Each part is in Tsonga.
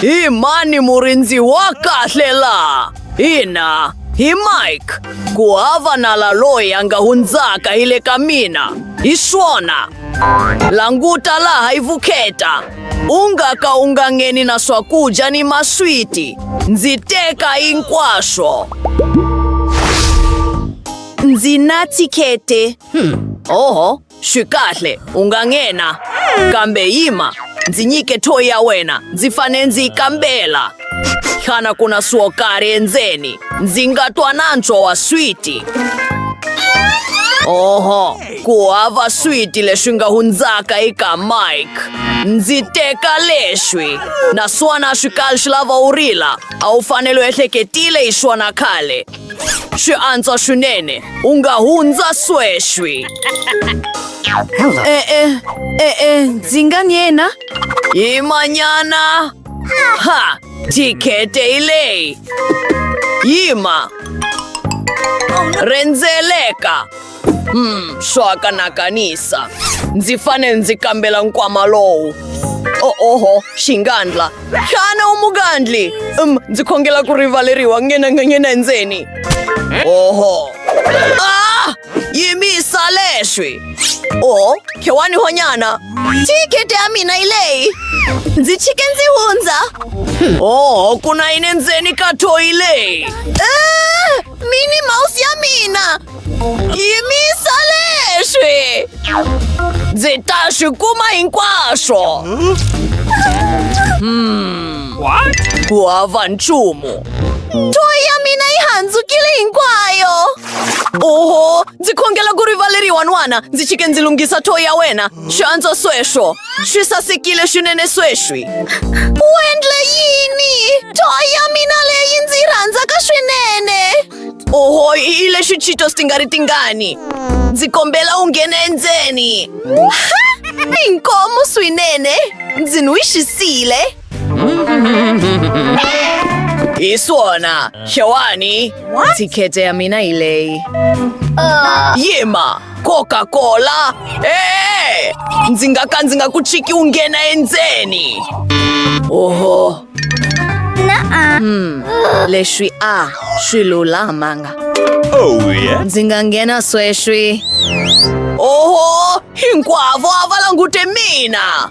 Hi mani murindzi wa kahle laha? Ina, hi Mike. Ku hava nala loyi a nga hundzaka hi le ka mina. Hi swona. Languta laha hi vukheta. U nga ka u nga ngheni na swakudya ni maswiti. Ndzi teka hinkwaswo. Ndzi na thikhete. Hmm. Oho, Swi kahle, u nga nghena. Kambe yima, ndzi nyike thoyi ya wena. Ndzi fanele ndzi yi kambela. Xana ku na swo karhi endzeni? Ndzi nga twa nantswo wa switi. Oho, ku hava switi leswi nga hundzaka eka Mike. Ndzi teka leswi. Naswona swi kali swi lava u rila. A wu fanele u ehleketile hi swona khale. Xi antswa swinene u nga hundza sweswi e-e e-e ndzi nga ni yena hi manyana ha tikhete hi leyi yima rhendzeleka Hmm, swaka na kanisa. Ndzi fane ndzi kambela nkwama lowu. O oho, xingandla. Xana u mugandli? Um, ndzi khongela ku rivaleriwa ngena nganyena endzeni. Oho. Ah! Yimisa leswi. O, khewani honyana. Thikete ya mina yi leyi. Ndzi chike ndzi hundza. Oho, ku na yini endzeni ka thoyi leyi? Ah! Mini Mouse ya mina! Yimisa leswi! Ndzi ta swi kuma hinkwaswo! Hmm. Ku hava nchumu! Toy ya mina yi handzukile hinkwayo! Oho! Ndzi khongela ku rivaleriwa n'wana! Ndzi chike ndzi lunghisa toy ya wena! Xi antswa sweswo. Swi sasekile swinene sweswi. U endle yini? Toy ya mina leyi ndzi yi rhandzaka swinene. Oho, i lexi Cheetos ti nga ri tingani. Ndzi kombela u nghena endzeni. Inkomu swinene. Ndzi n'wi xisile. Iswona, Shawani, tikete ya mina ilei. Yima, Coca-Cola. Eh, ndzi nga ka ndzi nga ku chiki u nghena endzeni. Oho. Hmm, leswi a swi lulamanga. Ndzi nga nghena sweswi. Oho, hinkwavo a va langute mina.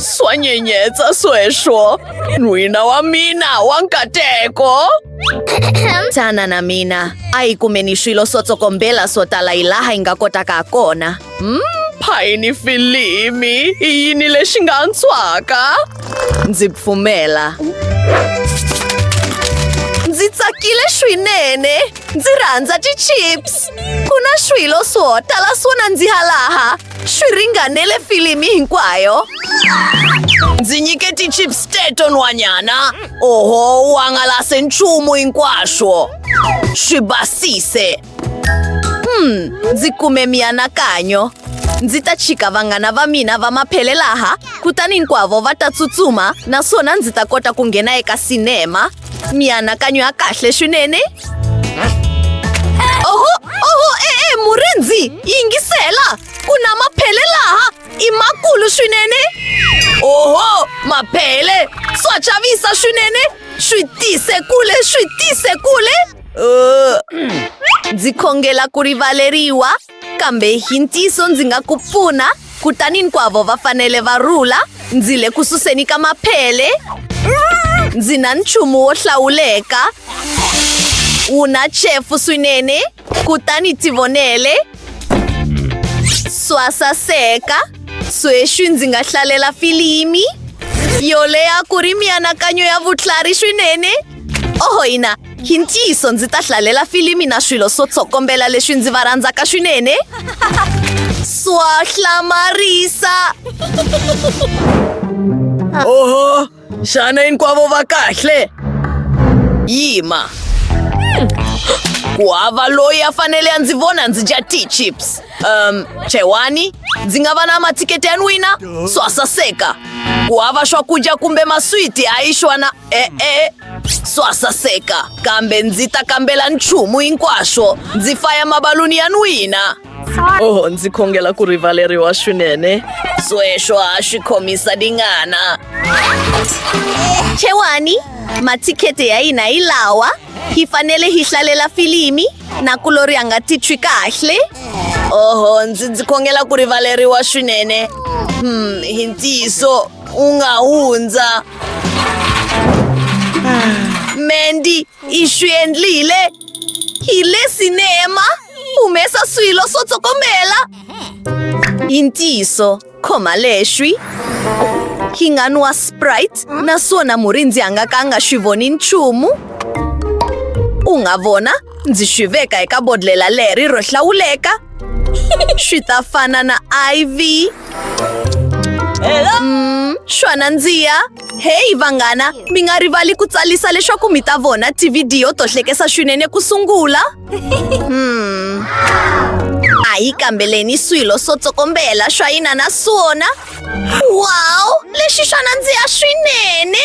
Swanyenyetsa sweswo. N'wina wa mina wa nkateko. Tana na mina. A hi kumeni swilo swo tsokombela swo tala hi laha hi nga kotaka ha kona. Mm, phayini filimi. I yini lexi nga antswaka? Ndzi pfumela. Ndzi tsakile swinene. Ndzi rhandza ti-chips. Ku na swilo swo tala swo nandziha laha. swi ringanele filimi hinkwayo ndzi nyike ti-chips teto nhwanyana oho u hangalase nchumu hinkwaswo swi basise hmm ndzi kume mianakanyo ndzi ta chika vanghana va mina va maphele laha kutani hinkwavo va ta tsutsuma naswona ndzi ta kota ku nghena eka sinema mianakanyo ya kahle swinene oho oho e-e murindzi yingisela ku na maphele laha i makulu swinene oho maphele swa chavisa swinene swi tise kule swi tise kule Uh, ndzi khongela ku rivaleriwa kambe hi ntiyiso ndzi nga ku pfuna kutani hinkwavo va fanele va rhula ndzi le ku suseni ka maphele ndzi na nchumu wo hlawuleka wu na chefu swinene kutani tivonele swa saseka sweswi ndzi nga hlalela filimi yo leha ku ri mianakanyo ya vutlhari swinene oho ina hi ntiyiso ndzi ta hlalela filimi na swilo swo tsokombela leswi ndzi va rhandzaka swinene swa hlamarisa oho xana hinkwavo va kahle yima ku hava loyi a fanele a ndzi vona ndzi dya t-chips um chewani ndzi nga va na mathiketi ya n'wina swa saseka ku hava swakudya kumbe maswiti a yi xwana e-e swa saseka kambe ndzi ta kambela nchumu hinkwaswo ndzi faya mabaluni ya n'wina oho ndzi khongela ku rivaleriwa swinene sweswo ha swi khomisa dingana xewani mathikhete ya hina hi lawa Hi fanele hi hlalela filimi na ku lori a nga titwi kahle. Oho, ndzi ndzi khongela ku rivaleriwa swinene. Hmm, hi ntiyiso u nga hundza. Mandy, i swi endlile. Hi le sinema, humesa swilo swo tsokombela. I ntiyiso. khoma leswi hi nga nwa sprite naswona murindzi a nga ka a nga swi voni nchumu u nga vona ndzi swi veka eka bodlela leri ro hlawuleka swi ta fana na iv Mm, swa nandziha heyi vanghana mi nga rivali ku tsarisa leswaku mi ta vona tivhidiyo to hlekesa swinene ku sungula Hmm. A hi kambeleni swilo swo tsokombela swa yina na swona. Wow! Lexi xa nandziha swinene!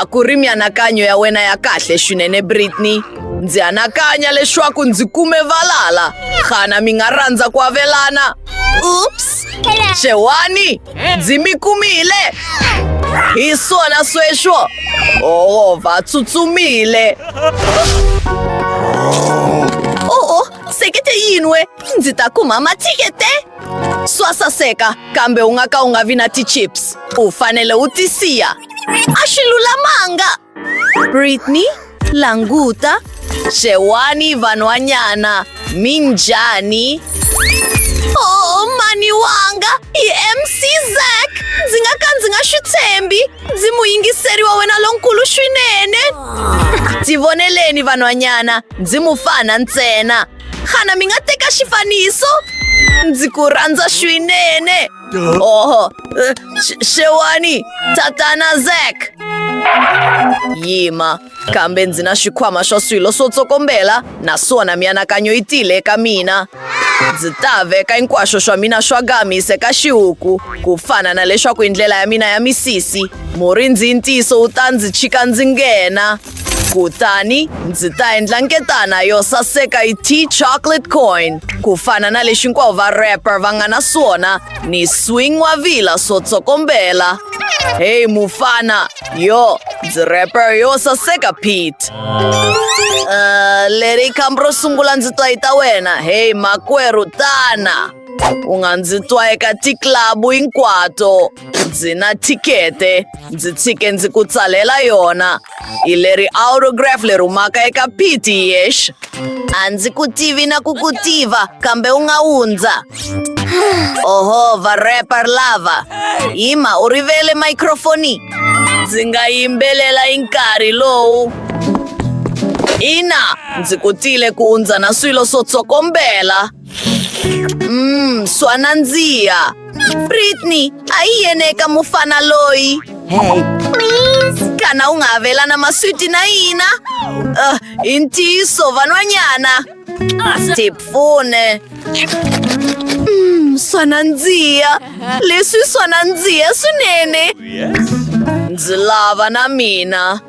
A ku ri mianakanyo ya wena ya kahle swinene, Britney. Ndzi anakanya leswaku ndzi kume valala. Xana mi nga rhandza ku avelana? Oops! Xewani! ndzi mi kumile hi swona sweswo oho va tsutsumile oho sekete yin'we ndzi ta kuma mathikete swa saseka kambe u nga ka u nga vi na ti-chips u fanele u tisiya a swi lulamanga britney Languta, xewani vanhwanyana, mi njhani? Oh, mhani wanga hi MC Zack. Ndzi nga ka ndzi nga swi tshembi. Ndzi muyingiseri wa wena lonkulu swinene. Tivoneleni vanhwanyana, ndzi mufana ntsena. Xana mi nga teka xifaniso? Ndzi ku rhandza swinene. Oho, eh, sh- shewani, tata na Zack. Yima, kambe ndzi na xikhwama xa swilo swo tsokombela naswona mianakanyo yi tile eka mina. Ndzi ta veka hinkwaswo swa mina swa gamis eka xihuku, ku fana na leswaku i ndlela ya mina ya misisi. Murindzi i ntiyiso wu ta ndzi chika ndzi nghena. kutani ndzi ta endla nketana yo saseka yi t chocolate coin ku fana na lexi hinkwavo va rapper va nga na swona ni swing wa vila swo tsokombela heyi mufana yo ndzi rapper yo saseka pete uh, leri khambi ro sungula ndzi twa yi ta wena heyi makwerhu tana u nga ndzi twa eka tiklabu hinkwato ndzi na thikete ndzi tshike ndzi ku tsalela yona hi leri autograph leri humaka eka piti yex a ndzi ku tivi na ku ku tiva kambe u nga wundza oho varepar lava yima u rivele microfoni ndzi nga yimbelela hi nkarhi lowu ina ndzi kutile ku undza na swilo swo tsokombela Mm, swa nandziha britney a yi yene eka mufana loyi hey kana u nga avelana maswiti na yina uh, hi ntiyiso van'wanyana tipfune mm, swa nandziha leswi swa nandziha swinene Yes. Ndzi lava na mina.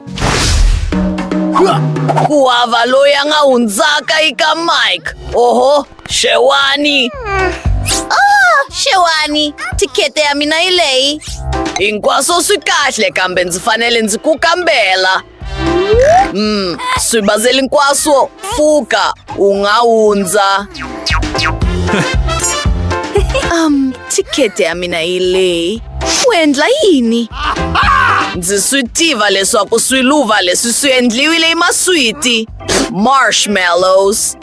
Ku hava loyi a nga hundzaka eka Mike. Oho, xewani. Oh, xewani. Tikhete ya mina yi leyi. Hinkwaswo swi kahle kambe ndzi fanele ndzi ku kambela. Mm, swibazeli hinkwaswo pfuka u nga hundza um thikete ya mina yi leyi u endla yini ndzi swi tiva leswaku swiluva leswi swi endliwile hi maswiti marshmallows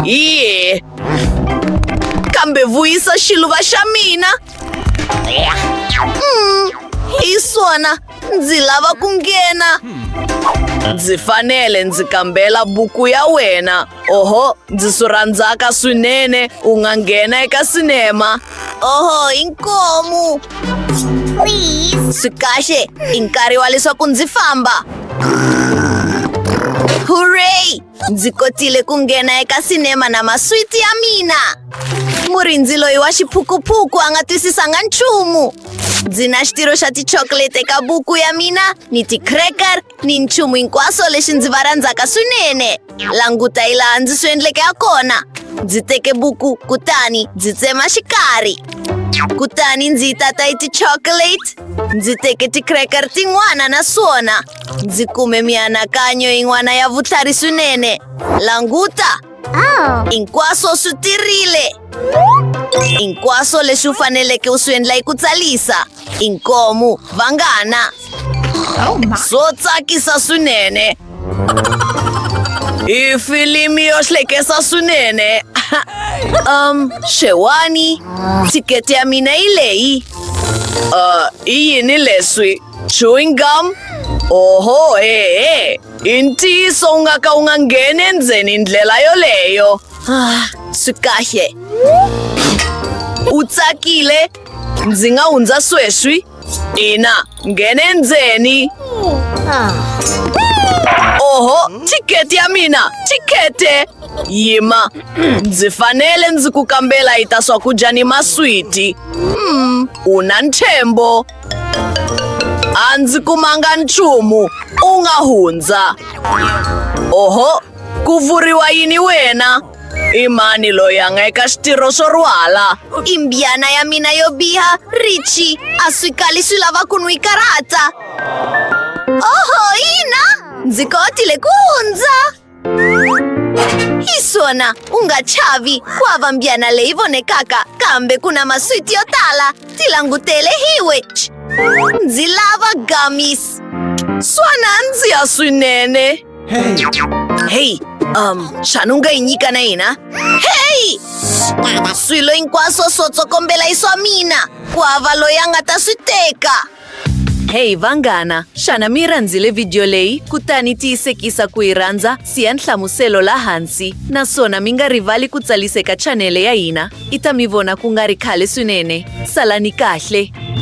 ye kambe vuyisa xiluva xa mina mm, hi swona ndzi lava ku nghena ndzi fanele ndzi kambela buku ya wena oho ndzi swi rhandzaka swinene u nga nghena eka sinema oho inkomu swi kahle i nkarhi wa leswaku ndzi famba hurray Ndzi kotile ku nghena eka sinema na maswiti ya mina. Murindzi loyi wa xiphukuphuku a nga twisisanga nchumu. Ndzi na xitirho xa tichocolate eka buku ya mina ni ti-cracker ni nchumu hinkwaswo lexi ndzi va rhandzaka swinene. Languta hi laha ndzi swi endleke ha kona. Ndzi teke buku kutani ndzi tsema xikarhi. Kutani ndzi yi tata hi ti-chocolate. Ndzi teke ti-cracker tin'wana na swona. Ndzi kume mianakanyo yin'wana ya vutlhari swinene. Languta! Oh. Hinkwaswo swi tirile. Hinkwaswo leswi u faneleke u swi endla hi ku tsarisa. Inkomu, vanghana. Oh, swo tsakisa swinene. I filimi yo hlekesa swinene. um, xewani. Thikete ya mina yi leyi. Uh, i yini leswi? Chewing gum? Oho, he-he. Intiso ungaka ungangeni endzeni hi ndlela yoleyo. Ah, swi kahle. U tsakile? Ndzi nga hundza sweswi? Ina, nghena endzeni. Oho, thikete ya mina, thikete! Yima, ndzi fanele ndzi ku kambela yi ta swakudya ni maswiti. Hmm, u na ntshembo. a ndzi kumanga nchumu u nga hundza oho ku vuriwa yini wena i mani loyi a nga eka xitirho swo rhwala i mbyana ya mina yo biha richi a swi kali swi lava ku n'wi karhata oho ina ndzi kotile ku hundza Isona, unga chavi, kwava mbyana leivone kaka, kambe kuna maswiti yotala, tilangutele hiwech. Ndzi lava gummies. Swana ndzi ya swinene. Hey, um, xana u nga yi nyika na hina? Hey! Swilo hinkwaswo swo tsokombela i swa mina. Kwava loyi a nga ta swi teka. Hey vanghana, xana mi rhandzile vhidiyo leyi? Kutani tiyisekisa ku yi rhandza, siya nhlamuselo laha hansi, naswona mi nga rivali ku tsariseka chanele ya hina. I ta mi vona ku nga ri khale swinene. Salani kahle!